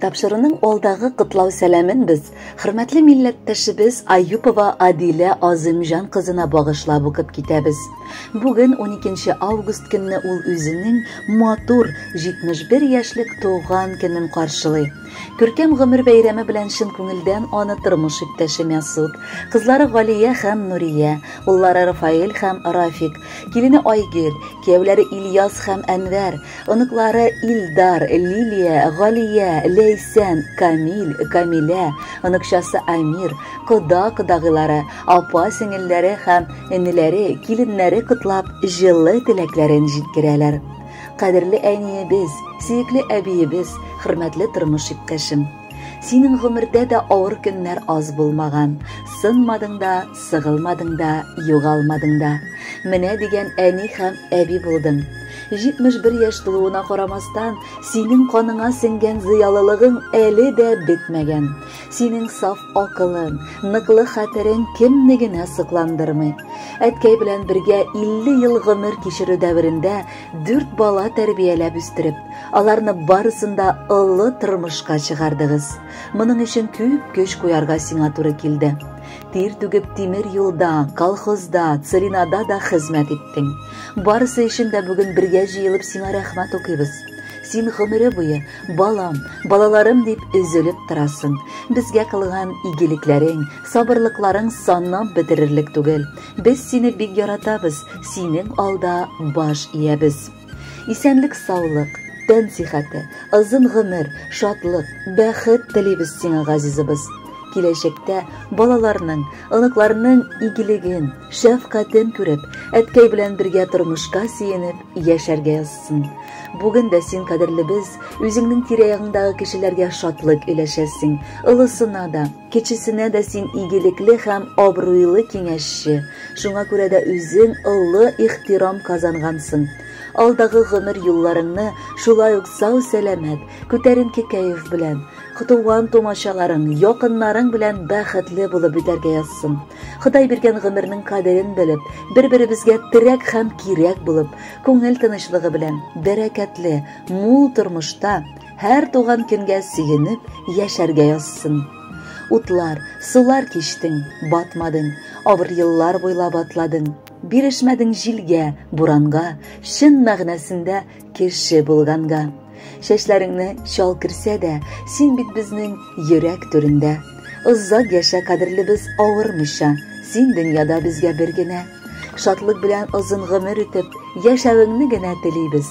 Тапшыруның алдагы котлау сәламен без хөрмәтле милләттәшебез Аюпова Адилә Азымҗан кызына багышлап укып китәбез. Бүген 12 август көнне ул үзенең матур 71 яшьлек туган көнен каршылый. Күркәм гомер бәйрәме белән чын күңелдән аны тормыш иптәше Мәсуд, кызлары Галия һәм Нурия, уллары Рафаэль һәм Рафик, килене Айгөл, кияүләре Ильяс һәм Әнвәр, Оныклары Илдар, Лилия, Галия, Ләйсән, Камил, Камилә, оныкчасы Амир, кода-кодагыйлары, апа-сеңелләре һәм энеләре, киленнәре котлап, җылы теләкләрен җиткерәләр. Кадерле әниебез, сөекле әбиебез, хөрмәтле тормыш иптәшем! Синең гомердә дә авыр көннәр аз булмаган. Сынмадың да, сыгылмадың да, югалмадың да. Менә дигән әни һәм әби булдың. 71 яшь тулуына карамастан, синең каныңа сеңгән зыялылыгың әле дә бетмәгән. Синең саф акылың, ныклы хәтерең кемне генә сокландырмый. Әткәй белән бергә 50 ел гомер кичерү дәверендә Дүрт бала тәрбияләп үстереп, аларны барысын да олы тормышка чыгардыгыз. Моның өчен күп көч куярга сиңа туры килде. Тир түгеп тимер юлда, колхозда, царинада да хезмәт иттең. Барысы өчен дә бүген бергә җыелып сиңа рәхмәт укыйбыз. Син гомере буе балам, балаларым дип өзелеп торасың. Безгә кылган игелекләрең, сабырлыкларың саннан бетерерлек түгел. Без сине бик яратабыз, синең алда баш иябез. Исәнлек саулык, тән сихәте, озын гомер, шатлык, бәхет телибез сиңа, газизыбыз. Киләчәктә балаларның, оныкларның игелеген, шәфкатен күреп, әткәй белән бергә тормышка сөенеп яшәргә язсын. Бүген дә син кадерлебез, үзеңнең тирә-ягыңдагы кешеләргә шатлык өләшәсең, олысына да, Кечесенә дә син игелекле һәм абруйлы киңәшче, шуңа күрә дә үзең олы ихтирам казангансың. Алдагы гомер юлларыңны шулай ук сау-сәламәт, күтәренке кәеф белән, туган-тумачаларың, якыннарың белән бәхетле булып үтәргә язсын. Ходай биргән гомернең кадерен белеп, бер-беребезгә терәк һәм кирәк булып, күңел тынычлыгы белән, бәрәкәтле, мул тормышта, Һәр туган көнгә сөенеп яшәргә язсын. Утлар, сулар кичтең, батмадың, авыр еллар буйлап атладың, бирешмәдең җилгә, буранга, чын мәгънәсендә кеше булганга. Чәчләреңне чал керсә дә, син бит безнең йөрәк түрендә. Озак яшә, кадерлебез, авырмыйча, син дөньяда безгә бер генә. Шатлык белән озын гомер итеп, яшәвеңне генә телибез.